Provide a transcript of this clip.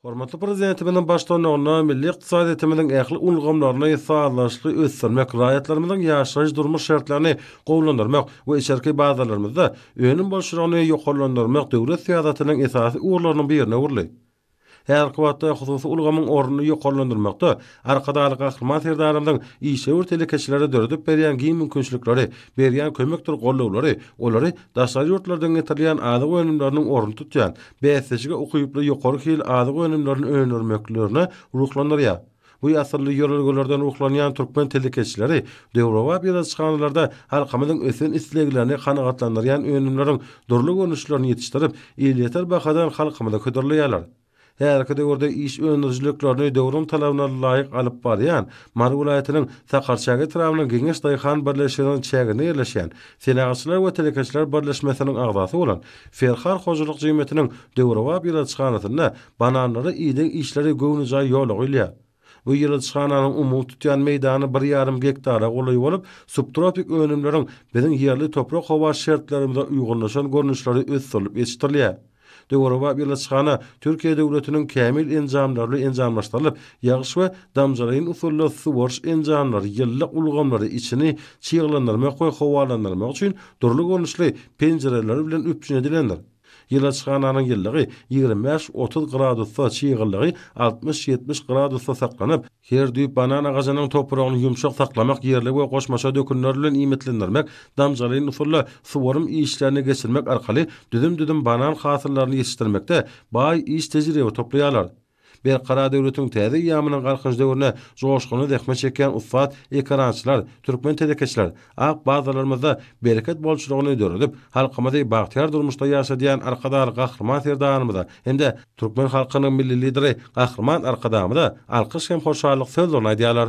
Hormatly Prezidentimiziň baştutanlygynda milli ykdysadyýetimiziň ähli ulgamlaryny sazlaşykly ösdürmek, raýatlarymyzyň ýaşaýyş-durmuş şertlerini gowulandyrmak we içerki bazarlarymyzda önüm bolçulygyny ýokarlandyrmak döwlet syýasatynyň esasy ugurlarynyň birine öwrüldi. Häzirki wagtda hususy ulgamyň ornuny ýokarlandyrmakda Arkadagly Gahryman Serdarymyzyň işewür telekeçilere döredip berýän giň mümkinçilikleri, berýän kömekdir gollawlary olary daşary ýurtlardan getirilýän azyk önümleriniň ornuny tutýan, bäsdeşige ukyply ýokary hil azyk önümlerini öndürmeklerine ruhlandyrýar. Bu asylly ýörelgelerden ruhlanýan türkmen telekeçileri döwrebap ýyladyşhanalarda halkymyzyň ösen isleglerini kanagatlandyrýan önümleriň dürli görnüşlerini ýetişdirip, elýeter bahadan halkymyza hödürleýärler. Häzirki döwürde iş öndürijiliklerini döwrüň talabyna laýyk alyp barýan Mary welaýatynyň Sakarçäge etrabynyň Geňeş daýhan birleşiginiň çäginde ýerleşýän Senagatçylar we telekeçiler birleşmesiniň agzasy bolan Ferhar hojalyk jemgyýetiniň döwrebap ilaçhanasynda bananlary iýdiň işleri göwnejaý ýola goýulýar. Bu ýylyjhananyň umumy tutýan meýdany bir ýarym gektara golaý bolup, subtropik önümleriň biziň ýerli toprak-howa şertlerimize uýgunlaşan görnüşleri ösdürilip ýetişdirilýär. Döwrebap ýylyjhana Türkiýe döwletiniň kämil enjamlaryly enjamlaşdyrylyp, ýagyş we damjalaýyn usulda suwaryş enjamlary, ýylylyk ulgamlary, içini çyglandyrmak we howalandyrmak üçin dürli görnüşli penjireler bilen üpjün edilendir. Ýylaçhananyň ýylylygy ýigrimi bäş, otuz gradusda, çyglylygy altmyş, ýetmiş gradusda saklanyp, her düýp banan agajynyň topragyny ýumşak saklamak, ýerli we goşmaça dökünler bilen iýmitlendirmek, damjalaýyn usulda suwarym işlerini geçirmek arkaly düzüm-düzüm banan hasyllaryny ýetişdirmekde baý iş tejribe toplaýarlar. Berkarar döwletiň täze eýýamynyň Galkynyş döwrüne joşgunly zähmet çekýän ussat ekerançylar, türkmen telekeçiler, ak bazarlarymyzda bereket bolçulygyny döredip, halkymyzy bagtyýar durmuşda ýaşadýan Arkadagly Gahryman Serdarymyza hem-de türkmen halkynyň Milli Lideri Gahryman Arkadagymyza alkyş hem hoşallyk sözlerini aýdýarlar.